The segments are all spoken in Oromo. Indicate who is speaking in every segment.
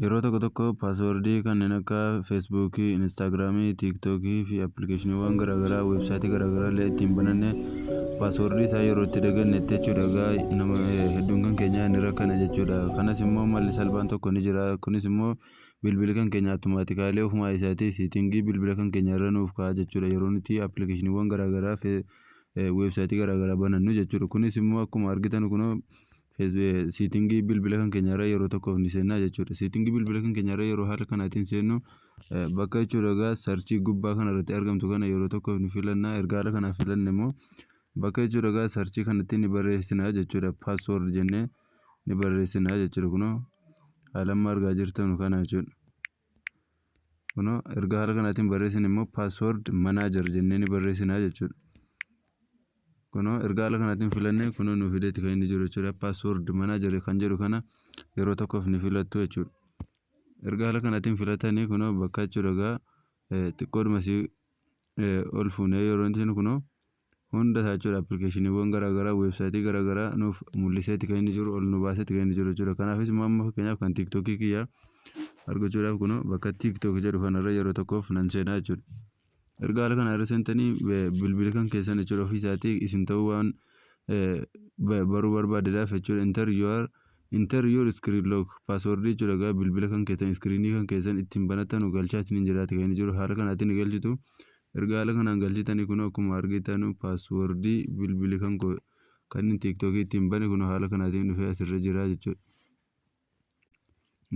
Speaker 1: Yeroo tokko tokko paaswoordii kanneen akka Feesbuukii, Inistaagiraamii, Tiiktookii fi appilikeeshiniiwwan garaagaraa weebsaayitii garaagaraa illee ittiin bananne paaswoordii isaa yeroo itti dagannetti jechuudha. Egaa nama hedduun kan keenyaa ni rakkana jechuudha. Kanas immoo malli salphaan tokko ni jira. Kunis immoo bilbili kan keenya attumaatikaalee ofumaa isaatii siitingii bilbila kan keenya irra nuuf ka'a jechuudha. Yeroo nuti appilikeeshiniiwwan garaagaraa weebsaayitii garaagaraa banannu jechuudha. Kunis immoo akkuma argitan kunoo siitingii bilbila kan keenyarra yeroo tokkoof ni seenna jechuudha. Siitingii bilbila kan keenyarra yeroo haala kanaatiin seennu bakka jechuudha egaa sarchii gubbaa kanarratti argamtu kana yeroo tokkoof ni filanna. Erga haala kanaan filanne immoo bakka jechuudha egaa sarchii kanatti ni barreessina jechuudha. Paaswoord jennee ni barreessina jechuudha kunoo haala amma argaa jirtanu kana jechuudha. Kunoo erga haala kanaatiin barreessin immoo password manager jennee ni barreessina jechuudha. Kunoo erga haala kanaatiin filannee kunoo nu fideetti kan inni jiru jechuudha. Password manager kan jedhu kana yeroo tokkoof ni filattu jechuudha. Erga haala kanaatiin filatanii kunoo bakka jechuudha egaa xiqqoodhuma si ol fuunee yeroo inni kunoo hunda isaa jechuudha appilikeeshiniiwwan garaagaraa weebsaayitii garaagaraa nuuf mul'iseeti kan inni jiru ol nu baaseeti kan inni jiru jechuudha kanaafis immoo amma fakkeenyaaf kan tiiktookii kiyyaa argachuudhaaf kunoo bakka tiiktook jedhu kanarra yeroo tokkoof nan seenaa jechuudha. Erga haala kana irra seentanii bilbila kan keessan jechuudha ofii isaatii isin ta'uu waan baruu barbaadedhaaf jechuudha inter your inter your screen lock password jechuudha egaa bilbila kan keessan iskiriinii kan keessan ittiin banatanu galchaa isiniin jiraati kan inni jiru haala kanaatiin ni galchitu. Erga haala kanaan galchitanii kunoo akkuma argitanu password bilbili kan koo kan tiktok ittiin bane kunoo haala kanaatiin dhufee asirra jira jechuudha.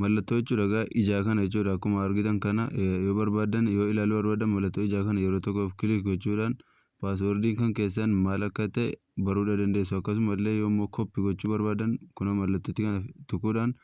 Speaker 1: Mallattoo jechuudha egaa ijaa kana jechuudha akkuma argitan kana yoo barbaadan yoo ilaaluu barbaadan mallattoo ijaa kana yeroo tokkoof kilik gochuudhaan passwordin kan keessan maal akka ta'e baruudha dandeessu akkasuma illee yoo immoo copy gochuu barbaadan kunoo mallattootti kana tuquudhaan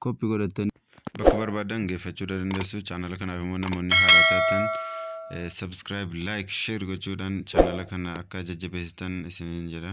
Speaker 1: copy godhattanii bakka barbaadan geeffachuu dandeessu chaanala kanaaf immoo namoonni haaraa taatan subscribe like share gochuudhaan chaanala kana akka jajjabeessitan isiniin jedha.